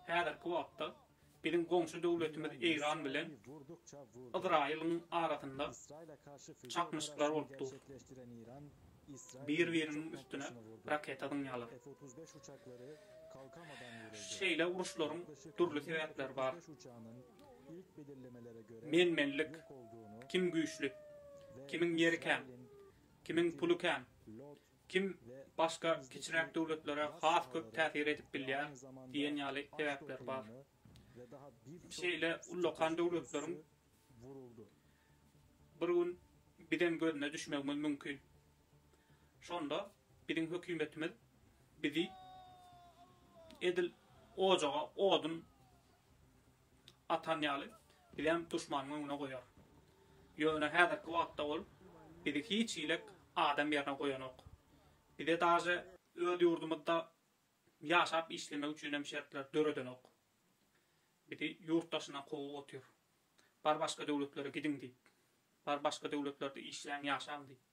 Häzirki wagtda biziň goňşy döwletimiz Eýran bilen Ysraýylyň arasynda çaknyşyklar bolup dur. Bir-biriniň üstüne raketa zyňýarlar. Şeýle uruşlaryň dürli sebäpleri bar. Men-menlik, kim güýçli, kimiň ýeri kän, kimiň puly kän, Kim başga kiçiräk döwletlere has köp täsir edip bilýär diýen ýaly sebäpler bar. Şeýle ullakan döwletleriň bir gün bizem gözüne düşmegimiz mümkin. Şonda biziň hökümetimiz bizi edil ojaga odun. atan ýaly, bizem duşmanyň öňüne goýar. Ýöne häzirki wagtda ol bizi hiç hilek adam ýerine goýanok. Bize daže öz ýurdumyzda ýaşap işlemek üçinem şertler döredenok. Bizi ýurt daşyna kowup otyr. Bar başga döwletlere gidiň diýip. Bar başga döwletlerde işläň ýaşaň diýip.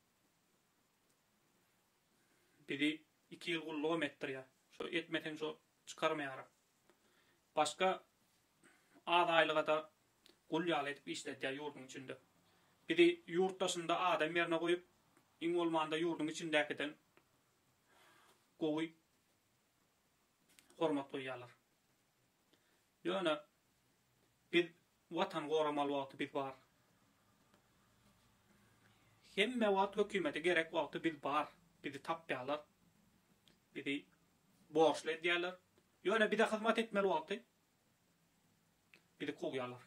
Bizi iki ýyl gullugam etdirýär. Şo etmeseň şo çykarmaýaram. Başga az aýlyga-da gul ýaly edip işledýär ýurduň içinde. Bizi ýurt daşynda adam ýerine goýup, iň bolmanda ýurduň içindäkiden gowy hormat goýýarlar. Ýöne biz Watan goramaly wagty biz bar. Hemme wagt hökümete gerek wagty biz bar. Bizi tapýalar. Bizi borçly edýäler. Ýöne bize hyzmat etmeli wagty bizi kowýalar.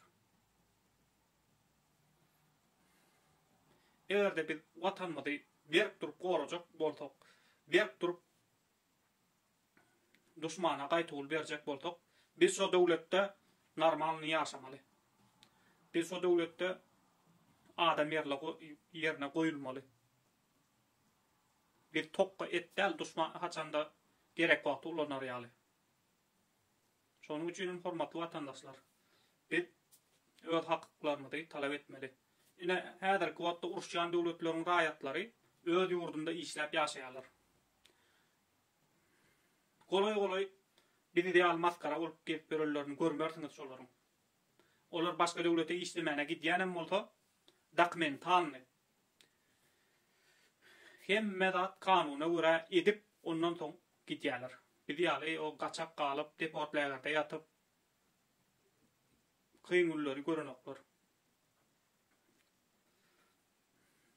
Egerde biz watanymyzy berk durup gorajak bolsak, berk durup Duşmana gaýtawul berjek bolsak biz şo döwletde normalny ýaşamaly. Biz şo döwletde adam ýerli ýerine goýulmaly. Biz tokga et däl duşman haçanda gerek wagty ulanar ýaly. Şonuň üçin hem hormatly watandaşlar biz öz hakyklarymyzy talap etmeli. Ine häzirki wagtda uruşýan döwletleriň raýatlary öz ýurdunda işläp ýaşaýarlar. Golaý-golaý biziň ýaly masgara bolup gezip ýörenlerini görmersiňiz şolaryň. Olar başga döwlete işlemäne gidýänem bolsa, dokumentalny, hemme zat kanuna görä edip, ondan soň gidýäler. Biz ýaly o gaçak galyp, deportlägerde ýatyp, kyn günleri görenoklar.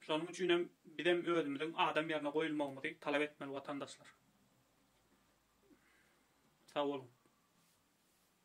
Şonuň üçin hem bizem özümiziň adam ýerine goýulmagymyzy talap etmeli watandaşlar. Sag boluň.